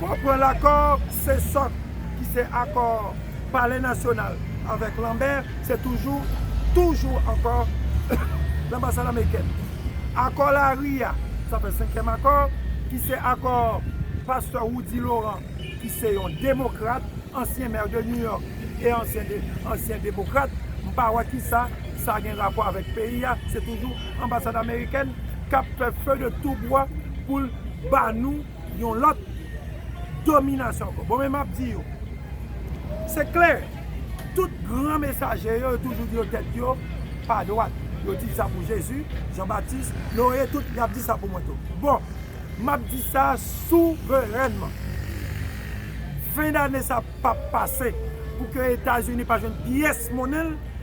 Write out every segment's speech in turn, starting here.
Konprann akò se sòk ki se akò palè nasyonal avèk lanmè se toujou toujou ankò lanbasad amerikèn. Akò lari a sa pè senkyèm akò ki se akò pastè Roudy Laurent ki se yon demokrat ansyen mè de New York e ansyen ansyen demokrat m pa wè kisa sa gen rapò avèk peyi a se toujou anbasad amerikèn kap fè feu de tout bois poul ba nou yon lòt dominasyon ankò. Bon men map di yo, se klè, tout gran mesaje yo, yo toujou di yo tèt yo pa dwat. Yo di sa pou Jezi, Jan Batis, Noe, tout, yap di sa pou mwen tou. Bon, map di sa souverènman, fen dane sa pap pase pou ke Etazini pa jwenn pyès monnen l.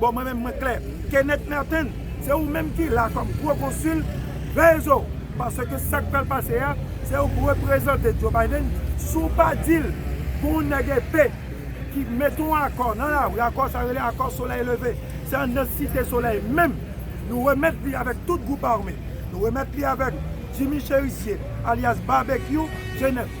Bon mwen menm mwen klè. Kenneth Merten se ou menm ki la kòm gwo konsil, veye zo w, paske sak pral pase a se ou k reprezante Joe Biden, si w pa di l pou yon nèg epe ki mete yon akò nan lari, akò sa yo rele akò solèy leve, se anndan site solèy menm nou remèt li avèk tout gwoup ame, nou remèt li avèk Jimmy Cherisier alyas Babekyou Jenèf.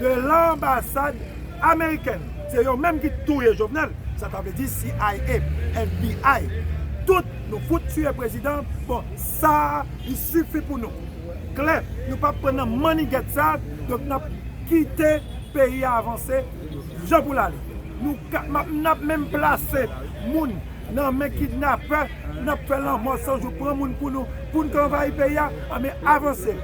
de lanbasad amerikèn. Se yo menm ki touye jovenel sa ta vle di cia FBI tout nou fout tuye prezidan bon sa li sifi pou nou klè nou pap pran nan mannigèt sa donk nap kite peyi a avanse jan pou l ale nou ka nap menm plase moun nan men kidnapè nap fè lanmò san jou pran moun pou nou pou n ka anvayi peyi a anben avanse.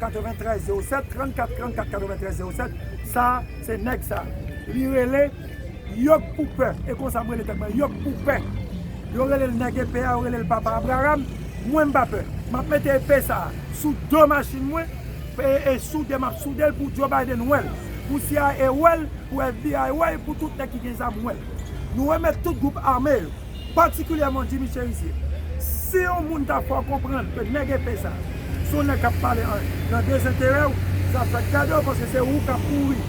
93 07 34 34 93 07 sa se nèg sa li rele yok pou pè e konsa m rele tèt mwen yok pou pè yo rele l nèg epè a yo rele l papa abraram mwen m pa pè m ap mete epè sa sou do machin mwen e e soude m ap soude l pou Joe Biden wè l pou cia wè l pou FBI wè l pou tout nèg ki gen zam wè l nou remèt tout gwoup ame yo. patikilyèman Jimmy Cherizier. Si yon moun ta fè w konprann ke nèg epe sa a, se yon nèg k ap pale an nan dezenterè w, zafè w ap gade w paske se ou k ap kouri,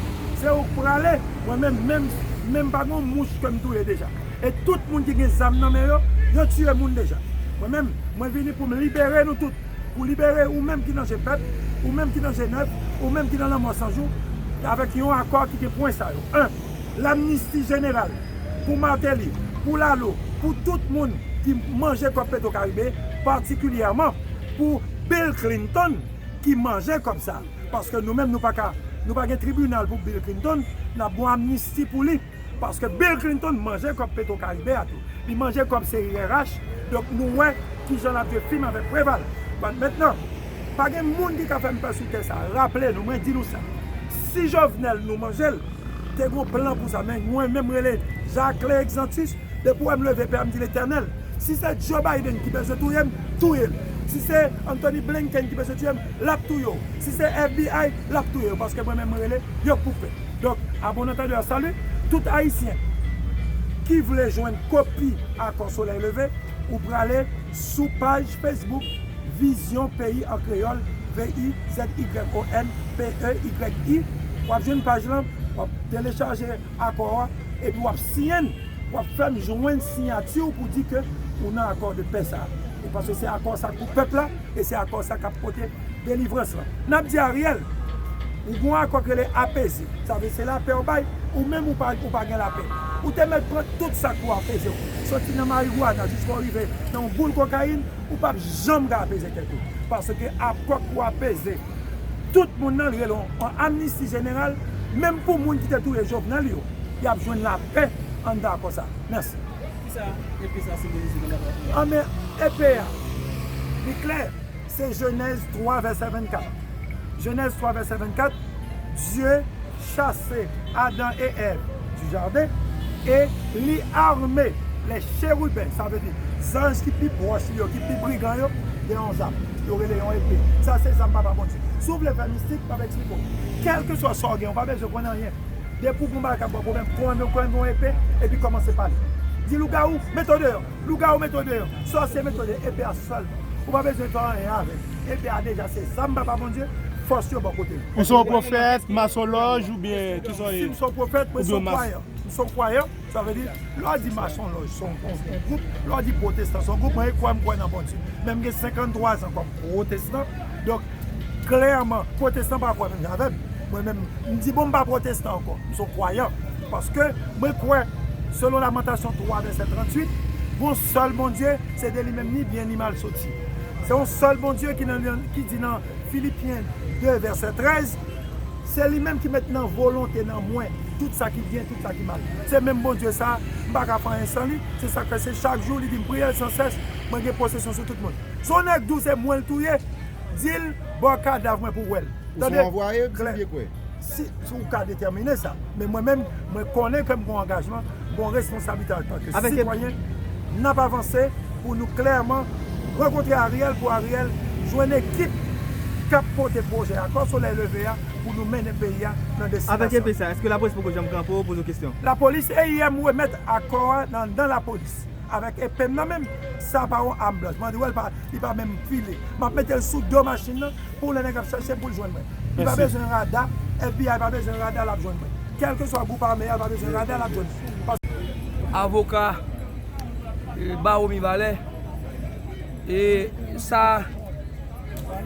se ou k prale, mwen menm, menm, menm pa gen yon mouch ke m touye deja. E tout moun ki gen zam nan men yo, yo tiye moun deja. Mwen menm, mwen vini pou m libere nou tout, pou libere ou menm ki nan je pèp, ou menm ki nan je nèg, ou menm ki nan lanmò san jou, avèk yon akò ki gen pwen sa yo, 1 Lamnisti jeneral. pou Martelly, pou Lalo, pou tout moun ki manje kòb Petro Caribe, patikilyèman pou Bill Clinton ki manje kòb sa. Paske nou menm nou pa ka, nou pa gen tribinal pou Bill Clinton, n ap gon amnisti pou li. Paske Bill Clinton manje kòb Petro Caribe a tou. Li manje kòb CIRH, donk nou wè ki jan l ap jwe fim avèk Preval. Bon, mentnan, pa gen moun ki ka fè m pè sou tè sa a. Raple nou, mwen di nou sa, si Jovenel nou manje l, te gon plan pou sa men mwen menm rele Jacquelin Exantus depi ou wèm leve pè a mdi letènèl si se Joe Biden ki bezwen touyem touyel si se Anthony Blinken ki bezwen touyem lap touye w si se FBI lap touye w paske mwen menm mwen rele yo pou fè donk a bon antendeur salut tout ayisyen ki vle jwenn kopi akò solèy leve ou prale. Sou paj Facebook Vizyon Peyi an Kreyòl, V-I-Z-Y-O-N P-E-Y-I, w ap jwenn paj lan, w ap telechaje akò a, epi w ap siyen l, w ap fè m jwenn siyati w pou di ke ou nan akò de pè sa a. Paske se akò sa k pou pèp la, e se akò sa k ap pote. delivrans lan. N ap di Ariel, ou gen yon akò ki rele apeze, sa vle di se lapè ou bay, ou menm ou pa gen lapè. Ou te mèt pran tout sa k pou apeze w, soti nan marigwana jiska w rive nan yon boul kokayin, ou pap janm ka apeze tèt ou. Paske akò k pou apeze tout moun nan li rele yon amnisti jeneral, menm pou moun ki te touye Jovenel yo, y ap jwenn lapè anndan akò sa. Mèsi. Kisa epe sa senbolize nan batay Ariel? Anben, epe a, li klè. Se Jenèz 3 vèsè 24. Jenèz 3 vèsè 24, Dye chase Adan e Èv du jaden e li arme lè cheriben, sa vle di zanj ki pi pwòch li yo, ki pi brigan yo, de yon zam. Yo rele yon epe. Sa se zam Papa Bondye. Si w vle fè mistik, m ap eksplike w. Kèlkeswa sa w gen, ou pa bezwen konn anyen. Depi w gen yon bagay k ap ba w pwoblèm, pran yon epe epi kòmanse pale. Di lougawou, mete w deyò! Lougawou mete w deyò, sòsyè mete w deyò, epe a sèlman. Ou pa bezwen fè anyen avè l. Epe a deja se zam Papa Bondye, fòs yo bò kote l. Ou se yon pwofèt, masonlòj oubyen ki sa w ye? Si m se yon pwofèt, mwen se yon kwayan. M se yon kwayan, sa vle di, lè w di masonlòj se yon gwoup, lè w di pwotestan se yon gwoup, mwen kwè m kwè nan Bondye. Men m gen 53 zan kòm pwotestan, donk. Klèman, pwotestan pa kwè menm jan avè m. Mwen menm, m di bon m pa pwotestan ankò. M se yon kwayan. Paske, mwen kwè, selon Lamantasyon 3 vèsè 38, gon sèl Bondye, se de li menm ni byen ni mal soti. Se yon sèl Bondye ki nan, ki di nan Filipyen 2 vèsè 13, Se li menm ki met nan volonte nan mwen tout sa ki byen, tout sa ki mal. Se menm Bondye sa a, m pa ka fè anyen san li. Se sa k fè se chak jou li di m priye l san sès, mwen gen posesyon sou tout moun. Son nèg dou se mwenl touye dil baw kadav mwen pou wèl tande klè si ou ka detèmine sa men mwen menm mwen konnen kem gon angajman gon responsablite antanke sitwayen nap avanse pou nou klèman rankontre Ariel pou Ariel jwenn ekip kap pote pwojè akò solèy leve a pou nou mennen peyi a nan destinasyon. Lapolis EIM remèt akò a nan dan lapolis. Avèk epem nan menm sa pa yon am blanch bandi wèl pa li pa menm file map metel sou do machin nan pou lè nèg ap chèchem poul jwenn mwen li pa bezwen rada FBI pa bezwen rada lap jwenn mwen kelke swa group ame a li pa bezwen rada lap jwenn mwen paske avoka baro mibalè e sa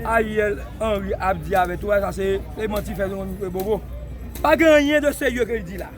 ariel henry ap di avè tou a sa se manti fè yon bobo pa gen anyen de serye kel di la.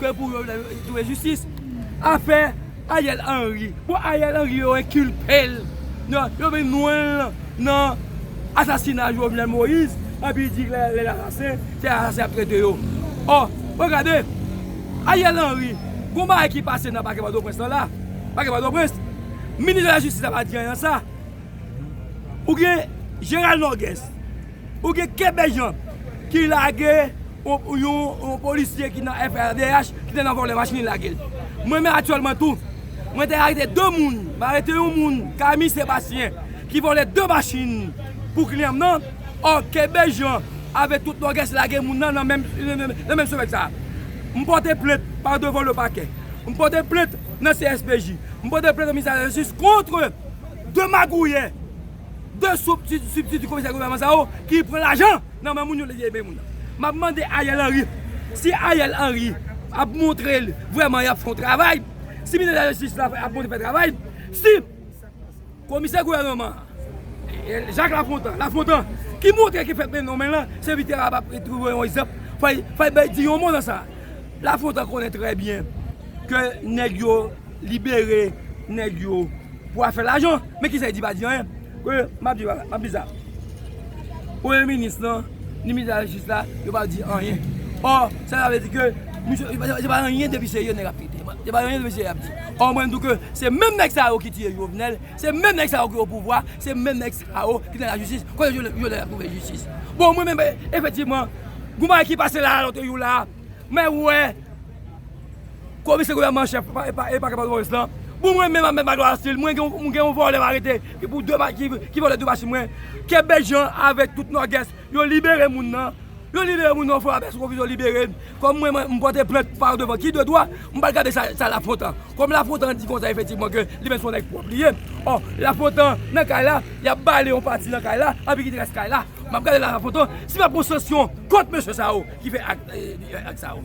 Ke pou yo jwe jistis afe Ariel Henry. Bon Ariel Henry yo enkilpel nan yo vin nwenl nan asasina Jovenel Moïse epi di lèl asasen se asasen yap trete yo. Or mwen gade Ariel Henry gon bagay ki pase nan pake pòtoprens lan la pake pòtoprens minis de la jistis la pa di anyen nan sa ou gen Gerald Norgues. Ou gen kenbe janm ki lage yon polisye ki nan FRDH ki te nan vòlè machin li lagel. Mwen menm aktyèlman tou mwen te arete 2 moun, m arete yon moun Camille Sébastien ki vòlè 2 machin pou kliyan m nan, ò kenbe janm avèk tout nògès lage moun nan nan menm semèn sa. M pòte plent pa devan le pakè, m pòte plent nan CSPJ, m pòte plent nan ministè lajistis kontre 2 magouyè. 2 substitut komisè gouvènman sa yo ki pran lajan nan men moun yo lè yo peye moun nan. Map mande Ariel Henry si Ariel Henry ap montre l vrèman yap fè yon travay, si ministè lajistis la ap montre l fè travay, si komisè gouvènman an Jacques Lafontant, Lafontant ki montre ki fè peyi nan men l lan, se li ki ta kapab montre yon egzanp, fay bay di yon mo nan sa. Lafontant konnen trè byen ke nèg yo. Libere nèg yo pou afè lajan. Men kisa li di pa di anyen. Ke map di map di sa. Premye minis lan, ni minis lajistis la, yo pa di anyen. Or, sa sa vle di ke misye se pa anyen depi serye nèg ap pete. Se pa anyen depi serye ap di. Or mwen di w ke se menm nèg sa yo ki tiye Jovenel, se menm nèg sa yo ki o pouvwa, se menm nèg sa yo ki nan lajistis. Kote Jovenel ap twouve jistis? Bon mwen menm efektivman, gon bagay ki pase la a lòt jou la a. Mwen wè Komisè Gouvènman an Chèf Pakè Pòtoprens lan Pou mwen menm Ahmed Magloire Aristide Mwen gen yon vòlè m arete Ki pou 2 Ki vòlè 2 machin mwen Ke Bèt Jean avèk tout Nòdès Yo libere moun nan Yo libere moun nan Yon fwa apre sou konfizyon libere l Kòm mwen m pòte plent pa devan Ki de dwa M pa gade sa Lafontan Kòm Lafontan di konsa efektivman ke Li menm se yon nèg pwòp li ye Ò Lafontan nan kay la Y ap ba li yon pati nan kay la Epi ki te rès kay la M ap gade Lafontan Si m ap pran sansyon kont mesye sa yo Ki fè ak sa yo?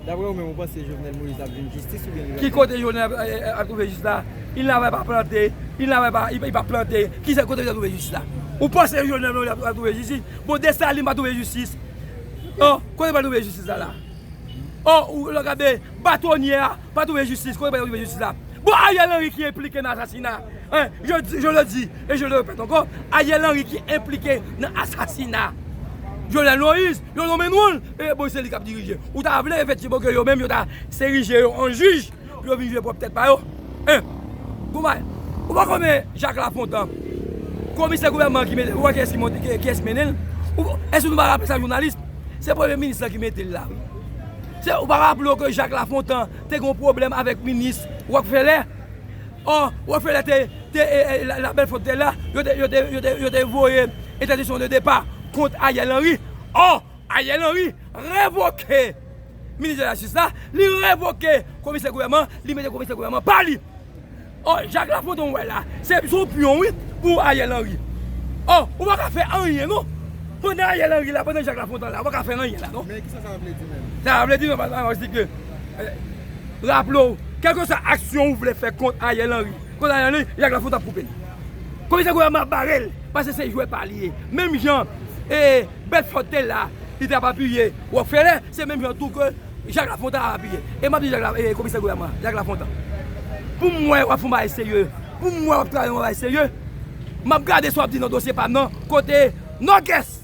Dapre ou menm ou panse Jovenel Moïse ap jwenn jistis oubyen li va. Ki kote Jovenel ap twouve jistis la? Il n avè pa plante, il n avè pa i pa plante, ki se kote li ap twouve jistis la? Ou panse Jovenel Moïse ap twouve jistis? Bon Dessalines pa twouve jistis? O, kote li pa twouve jistis la la? O, ou lò gade, Batonye a pa twouve jistis, kote li pa twouve jistis la? Bon Ariel Henry ki enplike nan asasina Je le dis et je le répète ankò, Ariel Henry ki enplike nan asasina Jovenel Moïse, yo nonmen nou l, e bon se li k ap dirije. Ou ta vle efektivman ke yo menm yo ta erije yo an jij pou yo vin jije pwòp tèt pa yo? En, gon bagay, ou pa konnen Jacques Lafontant, komisè gouvènman an ki mete l, ou wè kiyès ki monte, kiyès ki mennen l? Èske nou pa raple sa jounalism? Se premye minis lan ki mete l la wi. Ou pa raple w ke Jacques Lafontant te gen yon pwoblèm avèk minis Rockefeller? Or, Rockefeller te, te, la belle faute te la, yo te, yo te, yo te, yo te voye entèdiksyon de depa kont Ariel Henry. Or, Ariel Henry revoke Minis de la Jistis la, li revoke Komisè Gouvènman an, li mete Komisè Gouvènman pa li. Or, Jacques Lafontant ou wè la, se yon pyon wi pou Ariel Henry. Or, ou pa ka fè anyen non. Pandan Ariel Henry la, pandan Jacques Lafontant la, ou pa ka fè anyen la non. Men, kisa sa vle di menm? Sa vle di, nòmalman, yo di ke. Raple w, kèlkeswa aksyon ou vle fè kont Ariel Henry, kont Ariel Henry, Jacques Lafontant ap koupe l. Komisè Gouyama ap bare l, pase se jwè pa li ye. Menm jan Bedford te la, li te ap apiye Rockefeller, se menm jan tou ke Jacques Lafontant ap apiye. E m ap di komisè Gouyama, Jacques Lafontant, pou m wè w ap fè yon bagay serye, pou m wè w ap travay yon bagay serye, m ap gade sa w ap di nan dosye pa m nan, kote Nòkès!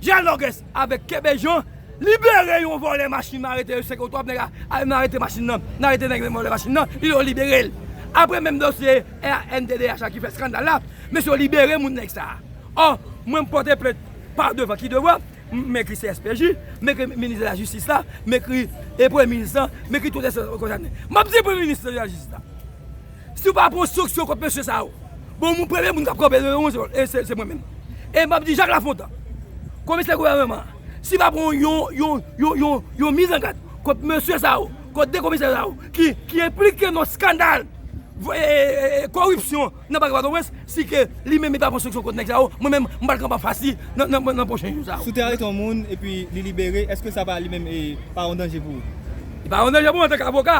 Dialogues avec Kebe Jean libere yon vòlè machin ma rete yo 5 oktòb nèg a nan rete machin nan nan rete nèg nan vòlè machin nan yo liberel aprè menm dosye rnddh la ki fè skandal la mesye yo libere moun nèg sa ò mwen m pòte plent pa devan ki devan m ekri CSPJ m ekri minis de la jistis la m ekri premye minis lan m ekri tout enstans pou yo kondanem map di premye minis la jistis la. Si w pa pran sanksyon kont mesye sa yo, bon moun premye moun k ap kanpe devan mwen e se mwen menm. E m ap di Jak Lafontan, komisè gouvènman an, si l pa pran yon, yon, yon, yon, yon mizangad kont mesye sa yo, kont 2 komisè sa yo ki, ki enplike nan skandal e, e, e, koripsyon nan pake Pòtoprens, si ke li menm li pa pran sanksyon kont nèg sa yo, mwen menm m pral kanpe anfas li nan, nan, nan pwochen jou sa yo. Si w te arete yon moun epi li libere, èske sa pa li menm e, pa yon danje pou ou? Li pa yon danje pou mwen antanke avoka.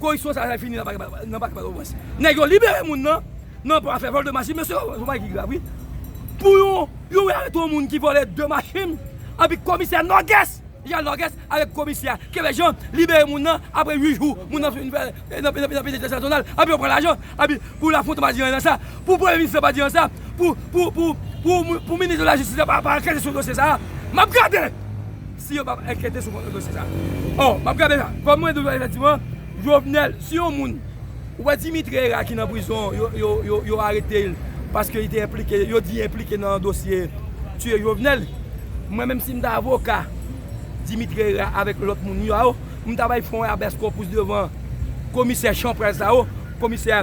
Koripsyon sa fini nan pakè pòtoprens nèg yo libere moun nan nan pou afè vòl de machin mesye son bagay ki grav wi pou yon yo arete yon moun ki vòlè 2 machin epi komisè nògès jan nògès avèk komisè kevè jan libere moun nan apre 8 jou moun nan fin fè nan penitansye nasyonal epi yo pran lajan epi pou lafontant pa di anyen nan sa pou premye minis lan pa di anyen nan sa pou pou pou pou minis de lajistis la pa ankète sou dosye sa a map gade. Si yo pap ankete sou kontre dosye sa. Or, map gade la, kom mwen di w la efektivman, Jovenel, si yon moun, ou wè Dimitri Herard ki nan prizon, yo arete l paske li te enplike, yo di enplike nan dosye tiye Jovenel. Mwen menm si m ta avoka Dimitri Herard avek lot moun yo a, m ta bay fon rabès konpous devan komisè chanpral sa yo, komisè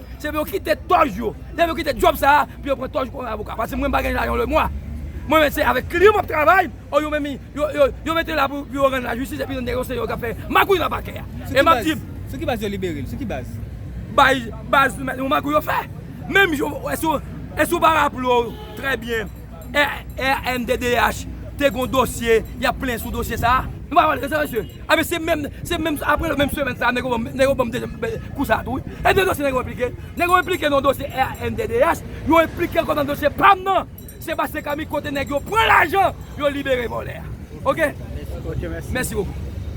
Se pou yo kite tòj yo. Se pou yo kite djòb sa a pou yo pran tòj kòm avoka. Paske mwen m pa gen lajan lemwa. Mwen menm se avèk kri yo m ap travay. Ò yo menm yo mete yo la pou yo rann lajistis epi nèg yo se yo k ap fè magouy nan pakè a. E m ap di. Sou ki baz yo libere l? Sou ki baz? Bay baz yon magouy yo fè. Menm jan w, èske w pa raple w trè byen. rnddh te gon dosye yap plen sou dosye sa. Nou pa wè sa mesye. Ebyen se menm se menm aprè menm semèn sa nèg yo banm dezyèm kou sa tou wi. Ebyen dosye nèg yo enplike. Nèg yo enplike nan dosye rnddh, yo enplike ankò nan dosye pam nan. Sébastien Camille kote nèg yo pran lajan yo libere vòlè a. Ok. Mèsi bokou.